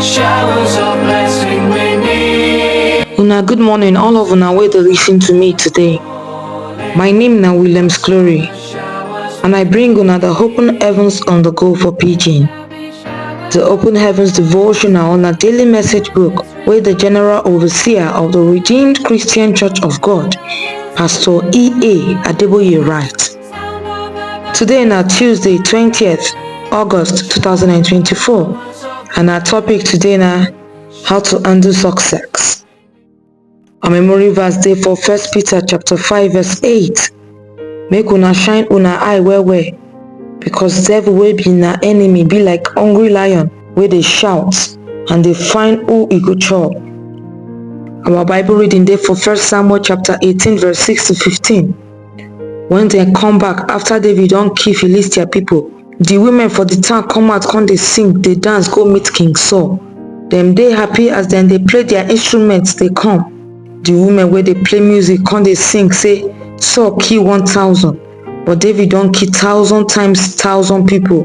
Showers of blessing we need. Una good morning all of una wey dey listen to me today. My name na Williams Glory and I bring una the open heavens on the go for pidgin. The open heavens devotional na daily message book wey the general overseer of the Redeemed Christian Church of God, Pastor E.A. Adeboye write. Today na Tuesday 20th August 2024 and our topic today na how to undo success. Our memory verse dey for 1 Peter chapter 5 verse 8. Make una shine una eye well well because devil wey be na enemy be like hungry lion wey dey shout and dey find who e go chop. Our Bible reading dey for 1 Samuel chapter 18 verse 6 to 15. Wen dem come back afta David don kill Philistia pipo, di women for di town come out come dey sing, dey dance go meet King Saul. Dem dey happy as dem dey play dia instruments dey come. Di women wey dey play music come dey sing sey, Saul kill one thousand, but David don kill thousand times thousand pipo.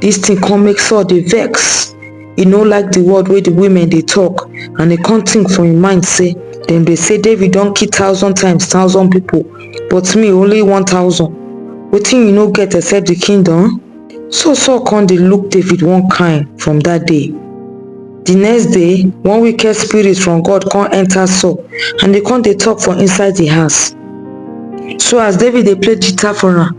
Dis tin come make Saul dey vex. e no like di word wey di women dey tok and e kon tink for im mind say dem dey say david don kill thousand times thousand pipo but me only one thousand wetin you no get except di kingdom so saul kon dey look david one kain from dat day di next day one wicked spirit from god kon enta saul and e kon dey tok for inside di house so as david dey play guitar for am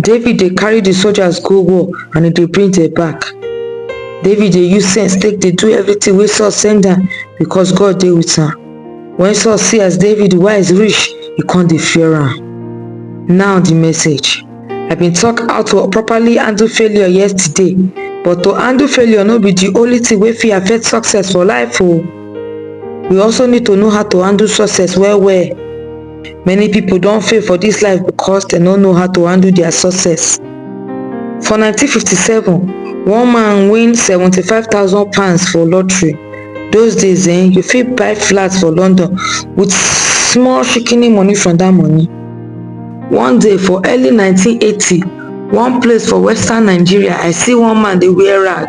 David dey carry the soldiers go war and he dey bring them back. David dey use sense take dey do everything wey Saul send am because God dey with am. When Saul see as David wise reach, he come dey fear am. Now the message. I been talk how to properly handle failure yesterday, but to handle failure no be the only thing wey fit affect success for life o. We also need to know how to handle success well well. Many pipo don fail for dis life becos dem no know how to handle dia success. For nineteen fifty seven, one man win seventy five thousand pounds for lottery, those days um you fit buy flat for London with small shikini money from dat money. One day for early nineteen eighty, one place for western Nigeria I see one man dey wear rag.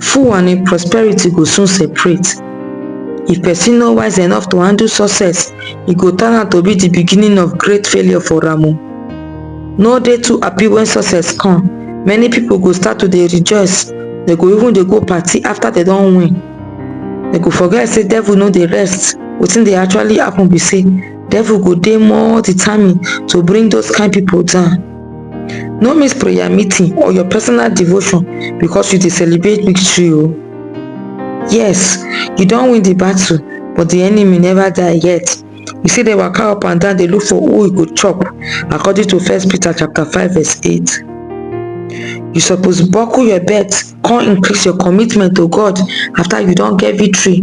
Fool and im prosperity go soon separate. If pesin no wise enough to handle success, e go turn out to be di beginning of great failure for Ramu. No dey too happy wen success come, many pipo go start to dey rejoice, dem go even dey go party afta dem don win. Dem go forget say devil no dey rest, wetin dey actually happun be say devil go dey more determined to bring those kain pipo down. no miss prayer meeting or your personal devotion because you dey celebrate victory o oh. yes you don win the battle but the enemy never die yet you see dey waka up and down dey look for who e go chop according to first peter chapter 5 verse 8 you suppose buckle your belt come increase your commitment to god after you don get victory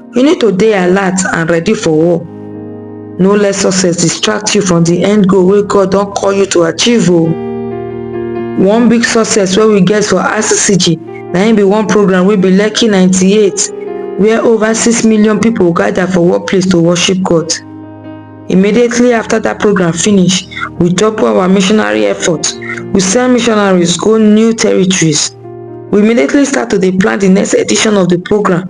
You need to dey alert and ready for war. No let success distract you from the end goal wey God don call you to achieve o. One big success wey we get for RCCG na im be one program wey be Lekki 98 where over six million people gather for one place to worship God. Immediately after that program finish, we double our missionary effort. We send missionaries go new territories. We immediately start to dey plan the next edition of the program